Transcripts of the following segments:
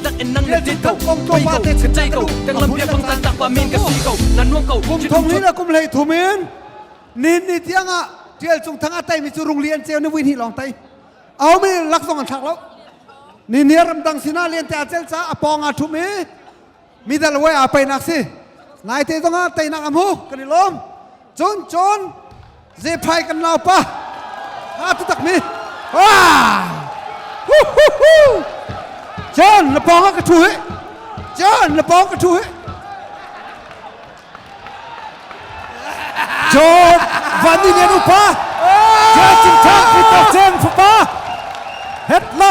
tak in nang le ti ko pei ko ka chai ko kan lam bia fang tan tak pa min ka si ko nan nuang ko kum thong in a kum hlei thum in nin ni tiang ah tial chung thang a tai mi chu rung li an cheu ni win hi long tai au mi lak zong an thak lo ni ni ram dang sina lian te acel cha apong a thum i midal we a painak si nai te zong a tainak am hu kan i lom Cun cun ze phai kan lau pa ha tu tak mi ah hu hu hu John na pawng ah ka thu he John na pawng ka thu he John van ni ngen upa John chin thang ki to cheng fapa het la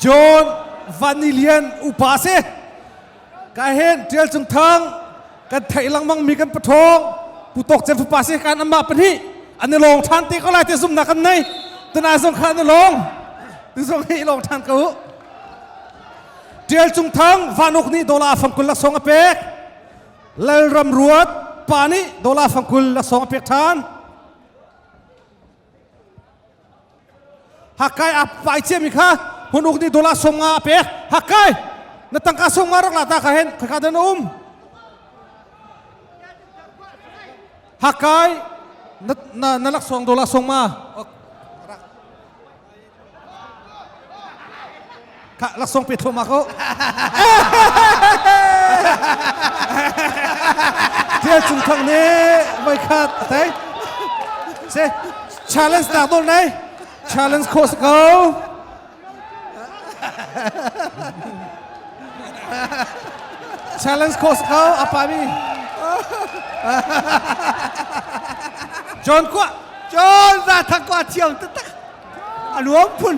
John Van Ni Lian upa si ka hen ṭial cung thang kan theih lengmang mi kan pathawng putok cem fapa si kan amma pahnih an i lawng ṭhan te ko lai te zumnak kan nei tuna zong kha an i lawng tu zong hi i lawng ṭhan ko ṭial cung thang vanuk nih dola fangkul laksong a pek lalram ruat pa nih dola fangkul laksong a pek ṭhan Hakai a pai chiami kha hun uk ni dolar som nga a pek Hakai na tangka som nga rak la ta kha hen khakha dan um Hakai na na, na lak song dolar som ma Kak laksong pe thoma ko. Thil cung thang ni mai khat thai. Se challenge tak dol nai. Challenge course ko. Challenge course ko apa mi. John kwa John za thang kwa thiam tak A luang phun.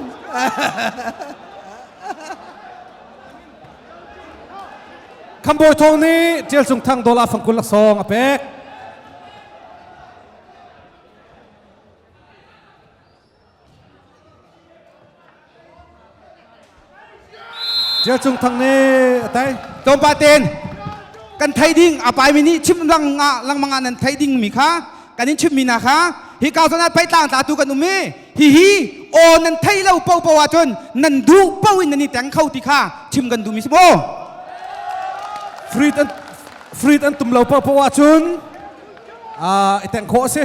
Khambawi Thawng nih Ṭial Sung Thang Dola Fangkul Laksawng a pek. Cia Cung Thang nih a tei. Tlawmpal tein kan thei ding a paimi nih chim lang lengmang ah nan thei dingmi kha kan in chimmi na kha hi kau san ah peitlang tla tu kan um i hi hi aw nan thei lo popo ahcun nan duh po in nan i teng kho ti kha chim kan duhmi si maw Fruit an, fruit an tum lo popo ahcun i teng khawh a si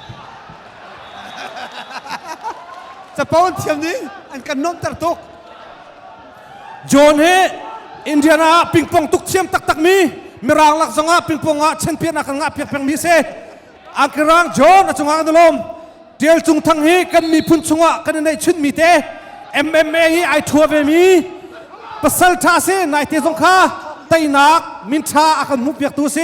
Capo an thiam nih an kan nuamhter tuk. John hi Indiana ah pingpong tuk thiam taktak mi Mirang lak zong ah pingpong ah chenpiahnak kan ngah piak peng mi si. Angkirang John a cungah an i lawm. Tial Cung Thang hi kan miphun chungah kan i neihchun mi te MMA hi ai thua ve mi pasal tha si naite zong kha teinak minṭha a kan hmuh piak tu si.